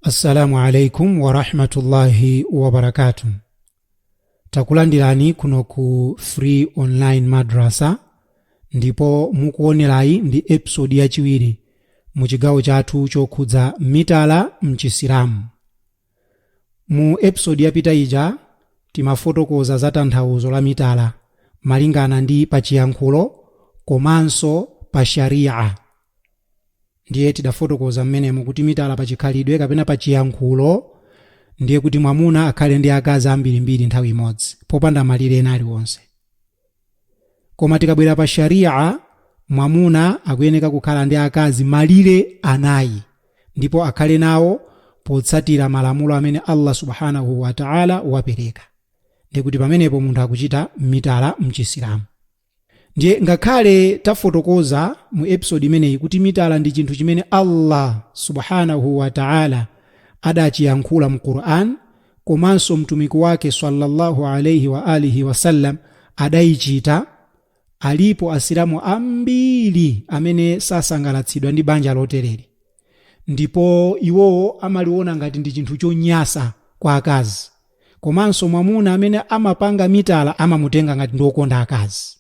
assalamu alaikum warahmatullahi wabarakatu takulandirani kuno ku free online madrasa ndipo mukuonerayi ndi episodi yachiwiri mu chigawo chathu chokhudza mitala mchisilamu mu episodi yapita ija timafotokoza za tanthauzo la mitala malingana ndi pachiyankhulo komanso pa sharia Ndiye tidafotokoza mmenemo kuti mitala pachikhalidwe kapena pachiyankhulo ndiye kuti mwamuna akhale ndi akazi ambirimbiri nthawi imodzi popanda malire ena aliwonse. Koma tikabwera pa Sharii'ah mwamuna akuyeneka kukhala ndi akazi malire anayi ndipo akhale nawo potsatira malamulo amene Allah Subhaanahu wa Ta'ala wapereka. Ndiye kuti pamenepo munthu akuchita mitala m'Chisilamu. ndiye ngakhale tafotokoza mu episode imeneyi kuti mitala ndi chinthu chimene allah subhanahu wa taala adachiyankhula mu quran komanso mtumiki wake sallallahu alaihi wa alihi wasallam adayichita alipo asilamu ambiri amene sasangalatsidwa ndi banja lotereri ndipo iwowo amaliona ngati ndi chinthu chonyasa kwa akazi komanso mwamuna amene amapanga mitala amamutenga ngati ndi wokonda akazi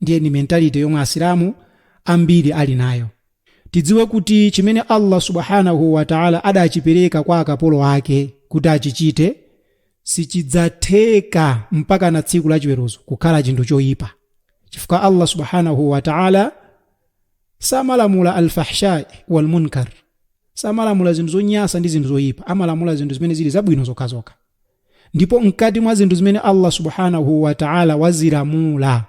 ndiye ni mentality yomwe asilamu ambiri ali nayo tidziwe kuti chimene allah subhanahu wataala adachipereka kwa akapolo ake kuti achichite sichidzatheka mpaka na tsiku la chiweruzo kukhala chinthu choyipa chifukwa allah subhanahu wataala samalamula alfahshai walmunkar samalamula zinthu zonyasa ndi zinthu zoyipa amalamula zinthu zimene zili zabwino zokhazokha ndipo mkati mwa zinthu zimene allah subhanahu wataala wazilamula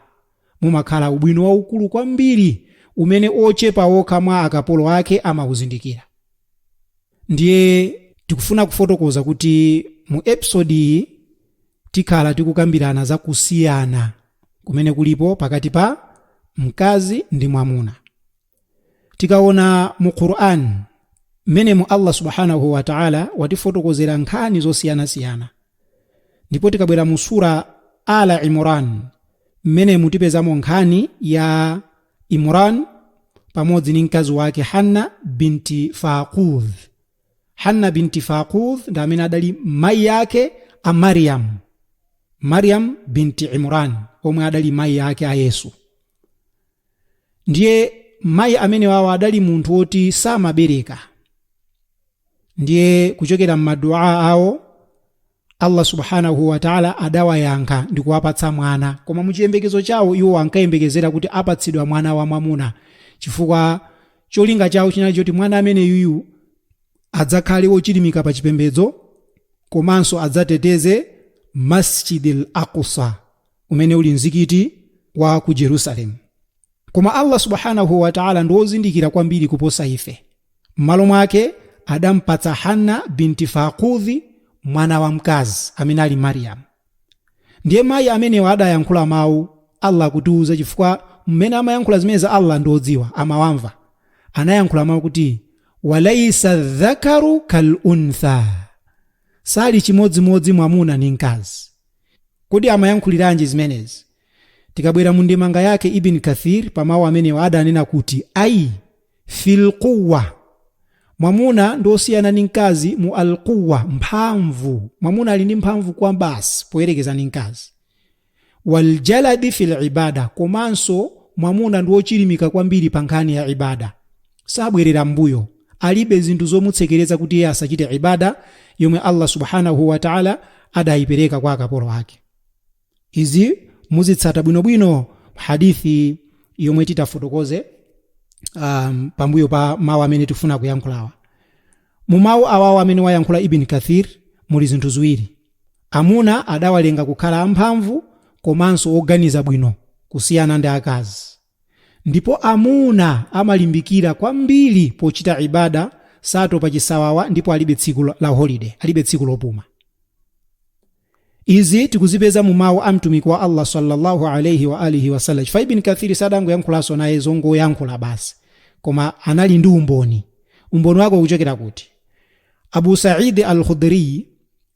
mumakhala ubwino waukulu kwambiri umene ochepa okha mwa akapolo ake amawuzindikira ndiye tikufuna kufotokoza kuti mu episodi iyi tikhala tikukambirana za kusiyana kumene kulipo pakati pa mkazi ndi mwamuna tikaona mu quran mmenemu allah subhanahu wa taala watifotokozera nkhani zosiyanasiyana ndipo tikabwera mu sura ala imran mmenemu tipezamo nkhani ya imran pamodzi ndi mkazi wake hanna binti faqudh hanna binti faqudh ndi amene adali mayi ake a mariam mariam binti imran omwe adali mayi ake a yesu ndiye mayi amenewawo adali munthu woti samabereka ndiye kuchokera m'madua awo Allah Subhaanahu wa Ta'la adawayankha ndikuwapatsa mwana, koma mu chiyembekezo chawo iwo ankayembekezera kuti apatsidwa mwana wa mwamuna, chifukwa cholinga chawo chinali choti mwana ameneyuyu adzakhale wochilimika pa chipembedzo komanso adzateteze Masjidil Aqsa, umene uli mzikiti wa ku Jerusalem. Koma Allah Subhaanahu wa Ta'aala ndi wozindikira kwambiri kuposa ife. M'malo mwake adampatsa Hanna binti Faaqudhi mwana wamkazi amene ali Maryam. Ndiye mayi amenewa adayankhula mawu, Allah akutiuza chifukwa mmene amayankhula zimenezi Allah ndi odziwa, amawamva. Anayankhula mawu kuti walaisa dhakaru kal untha, sali chimodzimodzi mwamuna ndi mkazi. Kodi amayankhuliranji zimenezi? Tikabwera mu ndemanga yake Ibn Kathir pa mawu amenewa adanena kuti ai fil quwwa, mwamuna ndi osiyana ndi mkazi mu al quwwa, mphamvu, mwamuna ali ndi mphamvu kwabasi poyerekeza ndi mkazi, wal jaladi fil ibada, komanso mwamuna ndi ochilimika kwambiri pa nkhani ya ibada, sabwerera m'mbuyo, alibe zinthu zomutsekereza kuti iye asachite ibada yomwe Allah subhanahu wa ta'ala adaipereka kwa akapolo ake. izi muzitsata bwinobwino hadithi yomwe titafotokoze pambuyo pa mawu amene tifuna kuyankhulawa mu mawu awawo amene wayankhula ibn kathir muli zinthu ziwiri amuna adawalenga kukhala amphamvu komanso oganiza bwino kusiyana ndi akazi Ndipo amuna amalimbikira kwambiri pochita ibada, satopa chisawawa ndipo alibe tsiku la holiday, alibe tsiku lopuma. Izi tikuzipeza mu mawu a Mtumiki wa Allah sallallahu alayhi wa alihi wasallam. Chifukwa Ibn Kathir sadangoyankhulanso naye zongoyankhula basi, koma anali ndi umboni. Umboni wake ukuchokera kuti? Abu Sa'id al-Khudri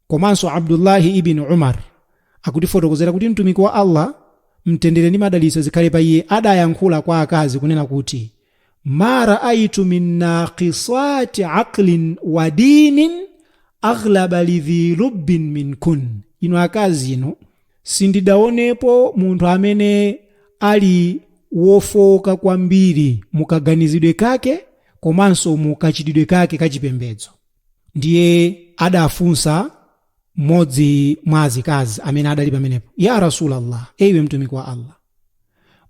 komanso abdullahi ibni umar akutifotokozera kuti mtumiki wa allah mtendere ndi madalitso zikhale pa iye adayankhula kwa akazi kunena kuti ma raaitu min naqisati aqlin wa dinin aghlaba lidhi lubbin minkun inu akazi inu sindidaonepo munthu amene ali wofooka kwambiri mukaganizidwe kake komanso mukachitidwe kake kachipembedzo ndiye adafunsa mmodzi mwa azikazi amene adali pamenepo ya rasulallah ee iwe mtumiki wa allah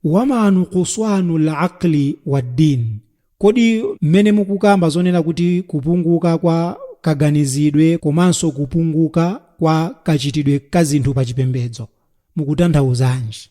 wama nukuswanu laqli waddin kodi mmene mukukamba zonena kuti kupunguka kwa kaganizidwe komanso kupunguka kwa kachitidwe ka zinthu pa chipembedzo mukutanthauzanji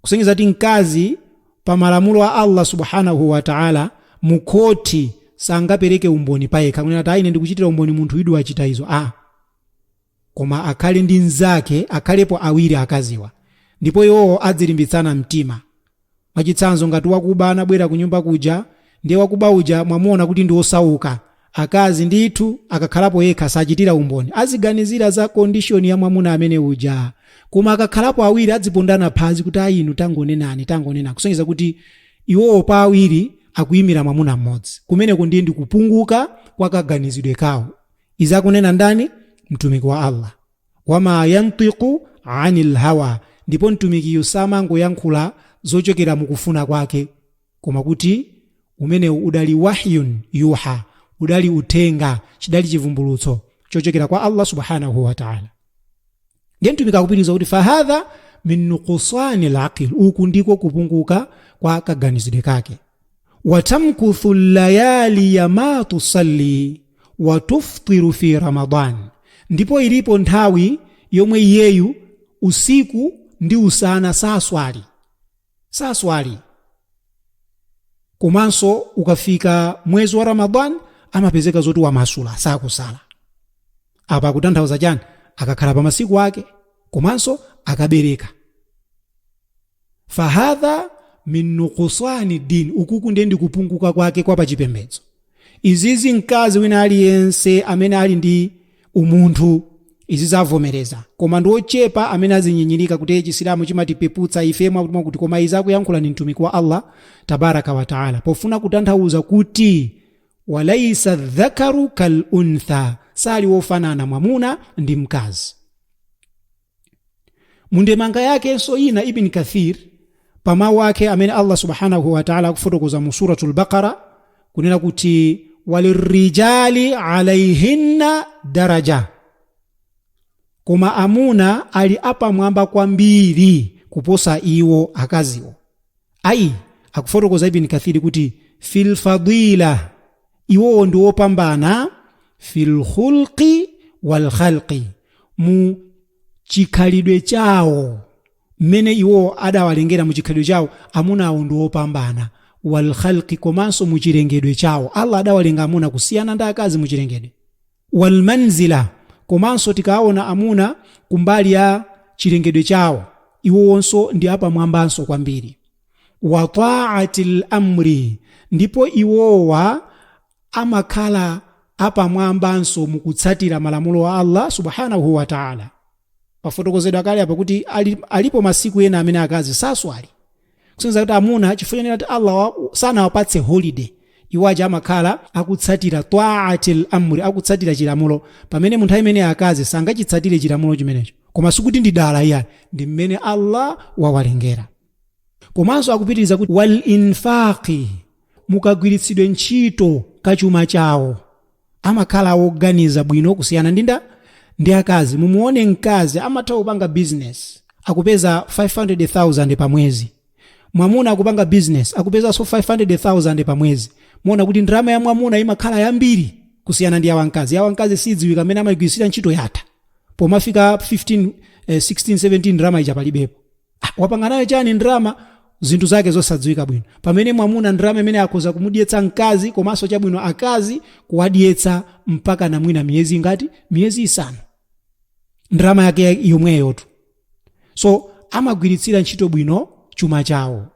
kusonyeza kuti mkazi pa malamulo a Allah subhanahu wa ta'ala mu khoti sangapereke umboni payekha kunena kuti ine ndikuchitira umboni munthuyu di wachita izo a ah. koma akhale ndi mnzake akhalepo awiri akaziwa ndipo iwowo adzilimbitsana mtima mwachitsanzo ngati wakuba anabwera ku nyumba kuja ndiye wakuba uja mwamuona kuti ndi osauka Akazi ndithu akakhalapo yekha sachitira umboni, aziganizira za condition ya mwamuna amene uja. Koma akakhalapo awiri adzipondana phazi kuti ayi inu tangonenani, tangonenani kusonyeza kuti iwowo pa awiri akuyimira mwamuna mmodzi. Kumeneko ndiye ndi kupunguka kwa kaganizidwe kawo. Izi akunena ndani? Mtumiki wa Allah. Wama yantiqu anil hawa, ndipo Mtumikiyu samangoyankhula zochokera mu kufuna kwake. koma kuti umenewu udali wahyun yuha udali uthenga chidali chivumbulutso chochokera kwa allah subhanahu wataala ndiye mtumiki akupitiriza kuti fahadha min nukusani laqil uku ndiko kupunguka kwa kaganizidwe kake watamkuthu layaliya ma tusalli watuftiru fi ramadan ndipo ilipo nthawi yomwe iyeyu usiku ndi usana saswali saswali komanso ukafika mwezi wa ramadan amapezeka zoti wamasula sakusala apa akutanthauza chani akakhala pa masiku ake komanso akabereka fahadha min nukusani dini ukuku ndiye ndikupunguka kwake kwa pachipembedzo izizi mkazi wina aliyense amene ali ndi umunthu izi azavomereza koma ndi ochepa amene azinyinyirika kuti chisilamu chimatipeputsa ife mwakutimwakuti koma izi akuyankhula ndi mtumiki wa allah tabaraka wataala pofuna kutanthauza kuti walaisa dhakaru kal untha sali wofanana mwamuna ndi mkazi mundemanga yakenso ina ibn kathir pa mawu ake amene allah subhanahu wataala akufotokoza mu suratu lbaqara kunena kuti walirijali alaihinna daraja koma amuna ali apamwamba kwambiri kuposa iwo akaziwo ayi akufotokoza ibn kathiri kuti filfadila iwowo ndi opambana fil khulqi wal khalqi mu chikhalidwe chawo mmene iwowo adawalengera mu chikhalidwe chawo amunawo ndi opambana wal khalqi komanso mu chilengedwe chawo allah adawalenga amuna kusiyana ndi akazi mu chilengedwe wal manzilah, komanso tikaawona amuna kumbali ya chilengedwe chawo, iwowonso ndi apamwambanso kwambiri. Wa ta'atil amri, ndipo iwowa amakhala apamwambanso mu kutsatira malamulo a Allah Subhaanahu wa Ta'aala. Pafotokozedwa kale apa kuti alipo masiku ena amene akazi saswali, kusonyeza kuti amuna chifukwa chonena kuti allah wa- sanawapatse holiday iwo aja amakhala akutsatira taatil amri akutsatira chilamulo pamene mu nthawi imene akazi sangachitsatire chilamulo chimenecho koma sikuti ndi dala iyani ndi mmene allah wawalengera komanso akupitiriza kuti wal infaqi mukagwiritsidwe ntchito kachuma chawo amakhala woganiza bwino kusiyana ndi nda ndi akazi mumuone mkazi amatha kupanga business akupeza 500000 pa mwezi mwamuna akupanga business akupezanso 500000 pa mwezi muona kuti ndalama ya mwamuna imakhala yambiri kusiyana ndi yawa mkazi yawa mkazi sidziwika mmene amayigwirisira ntchito yatha pomafika 15 eh, 16 17 ndalama ija palibepo Ah, wapanga nayo chani ndalama zinthu zake zosadziwika bwino pamene mwamuna ndalama imene ija akhoza kumudyetsa mkazi komanso chabwino akazi kuwadyetsa mpaka na mwina miyezi ngati miyezi isanu ndalama yake yomweyotu so amagwiritsira ntchito bwino chuma chawo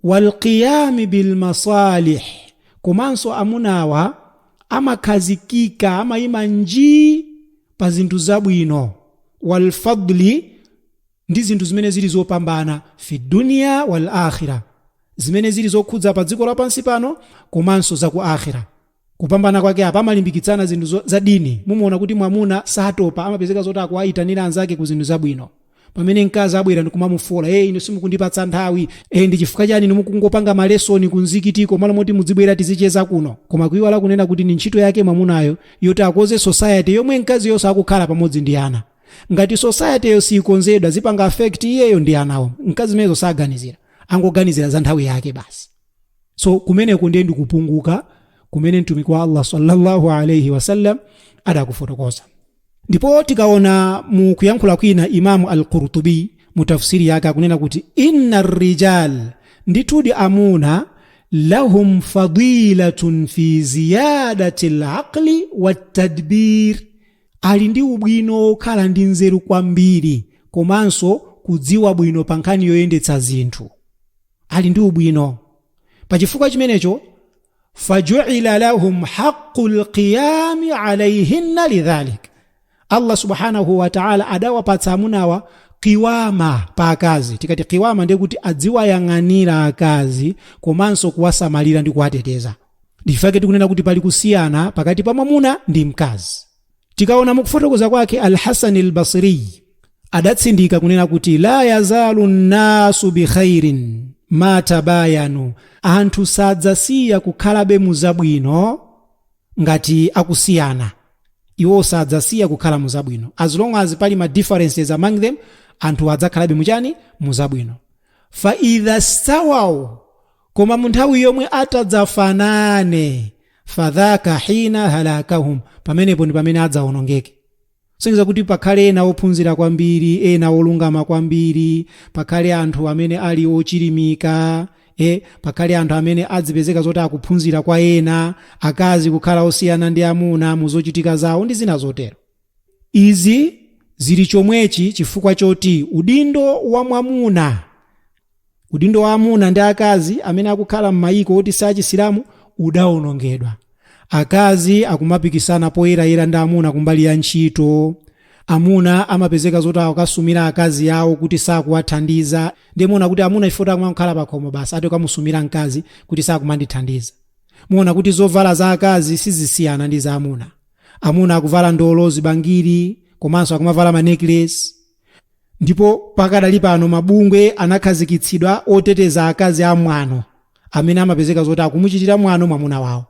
walqiyami bilmasalih komanso amunawa amakhazikika amayima njii pa zinthu zabwino walfadli ndi zinthu zimene zili zopambana fi dunya wal akhira zimene zili zokhudza pa dziko lapansi pano komanso za ku akhira kupambana kwake apa amalimbikitsana zinthu zo- za dini mumaona kuti mwamuna satopa amapezeka zoti akuwayitanira anzake ku zinthu zabwino pamene mkazi abwera ndikumamufola e inu simukundipatsa nthawi e ndi chifukwa chani inu mukungopanga malesoni ku mzikitiko malo moti mudzibwera tizicheza kuno koma kuiwala kunena kuti ni ntchito yake mwamunayo yoti akoze society yomwe mkaziyonso akukhala pamodzi ndi ana ngati society-yo siyikonzedwa zipanga affect iyeyo ndi anawo mkazi zimenezo saganizira angoganizira za nthawi yake basi so kumeneko ndiye ndikupunguka kumene mtumiki wa allah sallallahu alaihi wasallam adakufotokoza ndipo tikaona mu kuyankhula kwina imamu al-qurtubi mu tafsiri yake akunena kuti inna rijal ndithudi amuna lahum fadilatun fi ziyadati laqli watadbir ali ndi ubwino wokhala ndi nzeru kwambiri komanso kudziwa bwino pa nkhani yoyendetsa zinthu ali ndi ubwino pa chifukwa chimenecho fajuila lahum haqu lqiyami alaihinna lidhalik allah subhanahu wataala adawapatsa amunawa qiwama pa akazi tikati qiwama ndiye kuti adziwayang'anira akazi komanso kuwasamalira ndi kuwateteza ndichifukwa chake tikunena kuti pali kusiyana pakati pa mwamuna ndi mkazi tikaona mukufotokoza kwake alhasan albasriy adatsindika kunena kuti la yazalu nnasu bikhairin ma tabayanu anthu sadzasiya kukhalabe muzabwino ngati akusiyana iwo sadzasiya kukhala muzabwino as long as pali ma differences among them anthu adzakhalabe muchani muzabwino fa idha stawaw koma munthawi yomwe atadzafanane fadhaka hina halakahum pamenepo ndi pamene adzaonongeke kusonyeza kuti pakhale ena ophunzira kwambiri ena olungama kwambiri pakhale anthu amene ali ochilimika e pakhale anthu amene adzipezeka zoti akuphunzira kwa ena akazi kukhala osiyana ndi amuna mu zochitika zawo ndi zina zotero izi zili chomwechi chifukwa choti udindo wa mwamuna Udindo wa amuna ndi akazi amene akukhala m'mayiko oti si achisilamu udawonongedwa, akazi akumapikisana poyerayera ndi amuna kumbali ya ntchito, amuna amapezeka zoti akukasumira akazi awo kuti sakuwathandiza, ndiye muona kuti amuna chifukwa choti akumangokhala pakhomo basi ati akamusumira mkazi kuti sakumandithandiza. Muona kuti zovala za akazi sizisiyana ndi za amuna. Amuna akuvala ndolo, zibangiri komanso akumavala ma necklace. Ndipo pakadali pano mabungwe anakhazikitsidwa oteteza akazi amwano amene amapezeka zoti akumuchitira mwano mwamuna wawo.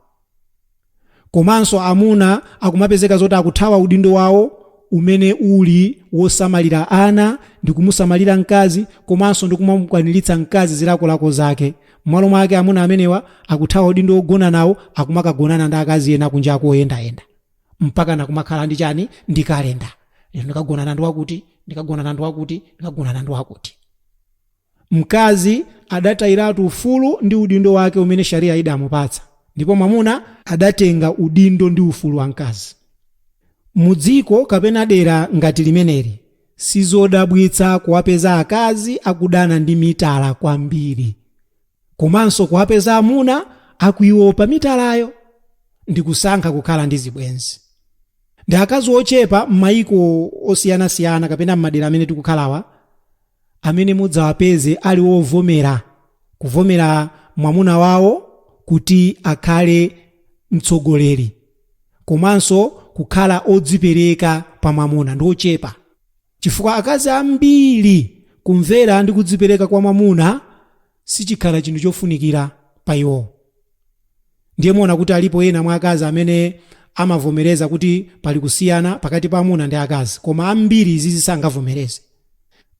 Komanso amuna akumapezeka zoti akuthawa udindo wawo umene uli wosamalira ana ndi kumusamalira mkazi komanso ndi kumamukwaniritsa mkazi zilakolako zake. M'malo mwake amuna amenewa akuthawa udindo wogona nawo akumakagonana ndi akazi ena kunjako oyendayenda. mpakana kumakhala ndi chani ndi kalenda lero ndikagonana ndi wakuti ndikagonana ndi wakuti ndikagonana ndi wakuti mkazi adatayiratu ufulu ndi udindo wake umene sharia idamupatsa ndipo mwamuna adatenga udindo ndi ufulu wa mkazi mu dziko kapena dera ngati limeneli sizodabwitsa kuwapeza akazi akudana ndi mitala kwambiri komanso kuwapeza amuna akuiopa mitalayo ndi kusankha kukhala ndi zibwenzi ndi akazi ochepa m'mayiko osiyanasiyana kapena m'madera amene tikukhalawa amene mudzawapeze ali ovomera kuvomera mwamuna wawo kuti akhale mtsogoleri komanso kukhala odzipereka pa mwamuna ndi ochepa Chifukwa akazi ambiri kumvera ndi kudzipereka kwa mwamuna sichikhala chinthu chofunikira pa iwo. Ndiye muona kuti alipo ena mwa akazi amene amavomereza kuti pali kusiyana pakati pa amuna ndi akazi, koma ambiri izi sangavomereze.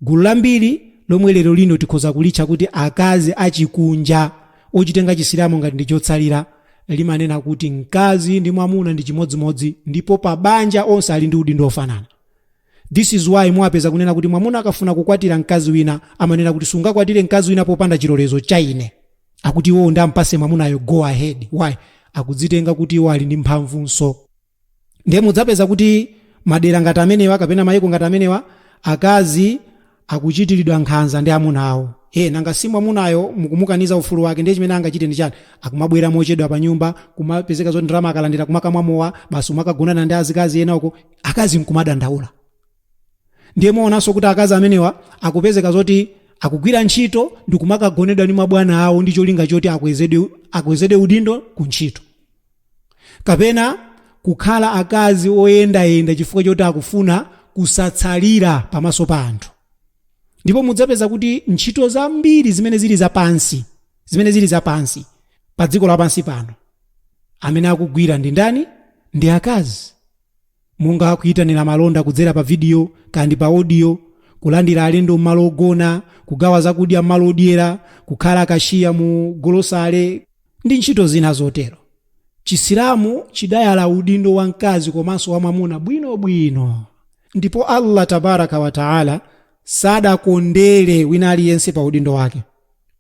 Gulu lambiri lomwe lero lino tikhoza kulitcha kuti akazi achikunja ochitenga Chisilamu ngati ndi chotsalira, limanena kuti mkazi ndi mwamuna ndi chimodzimodzi ndipo pa banja onse ali ndi udindo ofanana. This is why muwapeza kunena kuti mwamuna akafuna kukwatira mkazi wina amanena kuti sungakwatire mkazi wina popanda chilolezo cha ine. Akuti iwowo ndi ampase mwamunayo go ahead. Why? Akudzitenga kuti iwo ali ndi mphamvunso. Ndiye mudzapeza kuti madera ngati amenewa kapena mayiko ngati amenewa akazi akuchitiridwa nkhanza ndi amuna awo. ee nanga si mwamunayo mukumukaniza ufulu wake ndiye chimene angachite ndi chani? akumabwera mochedwa panyumba, kumapezeka zoti ndalama akalandira kumakamwa mowa basi kumakagonana ndi azikazi ena uko akazi nkumadandaula. ndiye muonanso kuti akazi amenewa akupezeka zoti akugwira ntchito ndi kumakagonedwa ndi mabwana awo ndi cholinga choti akwezedwe, akwezedwe udindo ku ntchito. kapena kukhala akazi oyendayenda chifukwa choti akufuna kusatsalira pamaso pa anthu ndipo mudzapeza kuti ntchito zambiri zimene zili zapansi zimene zili zapansi pa dziko lapansi pano amene akugwira ndi ndani ndi akazi monga kuitanira malonda kudzera pa vidiyo kaya ndi pa odiyo, kulandira alendo m'malo ogona, kugawa zakudya m'malo odyera, kukhala kashiya mu golosale, ndi ntchito zina zotero. Chisilamu chidayala udindo wa mkazi komanso wa mwamuna bwinobwino. Ndipo Allah Tabaaraka wa Ta'ala sadakondere wina aliyense pa udindo wake.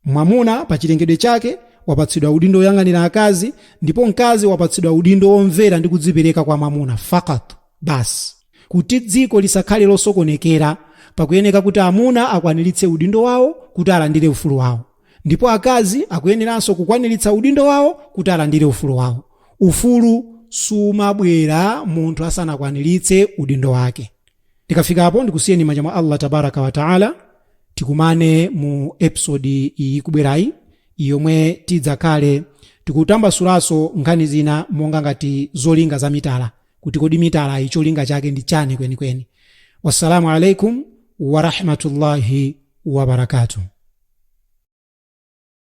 Mwamuna pa chilengedwe chake wapatsidwa udindo woyang'anira akazi ndipo mkazi wapatsidwa udindo womvera ndi kudzipereka kwa mwamuna faqat, basi. Kuti dziko lisakhale losokonekera, pakuyeneka kuti amuna akwaniritse udindo wawo kuti alandire ufulu wawo ndipo akazi akuyeneranso kukwaniritsa udindo wawo kuti alandire ufulu wawo. Ufulu sumabwera munthu asanakwaniritse udindo wake. Ndikafika apo ndikusiyeni m'manja mwa Allah Tabaaraka wa Ta'ala tikumane mu episode ikubwerayi yomwe tidzakhale tikutambasulaso nkhani zina monga ngati zolinga za mitala kuti kodi mitalayi cholinga chake ndi chani kwenikweni. Wassalamu alaikum warahmatullahi wabarakatuh.